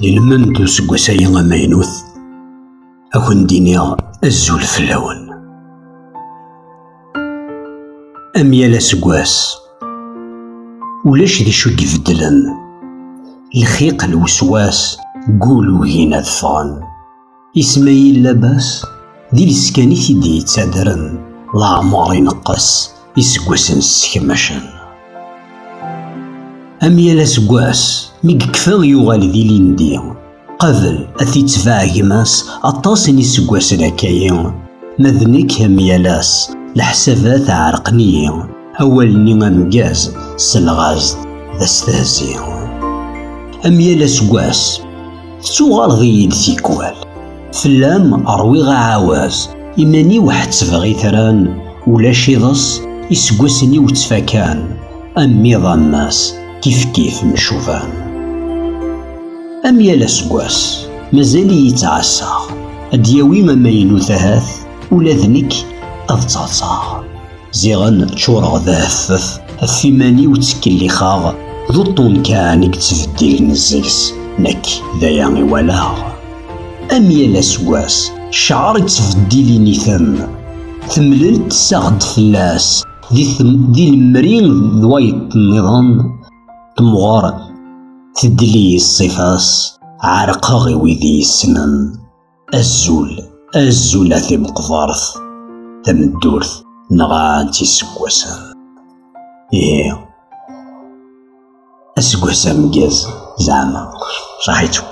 Yelmend useggas-agi amaynut ad kent-iniɣ azul fell-awen. Am yal aseggas, ulac d acu ibeddlen. Lxiq lweswas gul ugin ad ffɣen. Ismaïl Labas d iles kan i t-id-yettadren, leɛmeṛ ineqqes, iseggasen ssekmacen. Am yal aseggas, mi yekfa yuɣal d ilindi. Qabel ad t-itbeɛ gma-s aṭas n yiseggasen akkayi, ma d nekk am yal ass, leḥsabat ɛerqen-iyi. Awal-nni ameggaz selɣaz-d d astehzi. Am yal aseggas tettuɣaleḍ-iyi-d tikwal. Fell-am ṛwiɣ aɛawaz, iman-iw ḥettbeɣ itran, ulac iḍes, iseggasen-iw ttfakan, am iḍ am ass, kifkif mcuban. Am yal aseggas mazal-iyi ttɛassaɣ, ad d-yawi amaynut ahat, ula d nekk ad ttɛeḍḍaɣ. Ziɣen ččureɣ d aheffef, ɣef iman-iw ttkellixeɣ, d uṭṭun kan i yettbeddilen seg-s, nekk d aya i walaɣ. Am yal aseggas, ccɛer yettbeddil initen, temlelt tessaɣ-d fell-as, di lemri d wayeḍ-nniḍen temɣer tedli-yi ṣṣifa-s, ɛerqeɣ i wid i yessnen. Azul, azul a timeqbart, tameddurt nɣant iseggasen. Ihi, aseggas ameggaz zeɛma, saḥit-tt.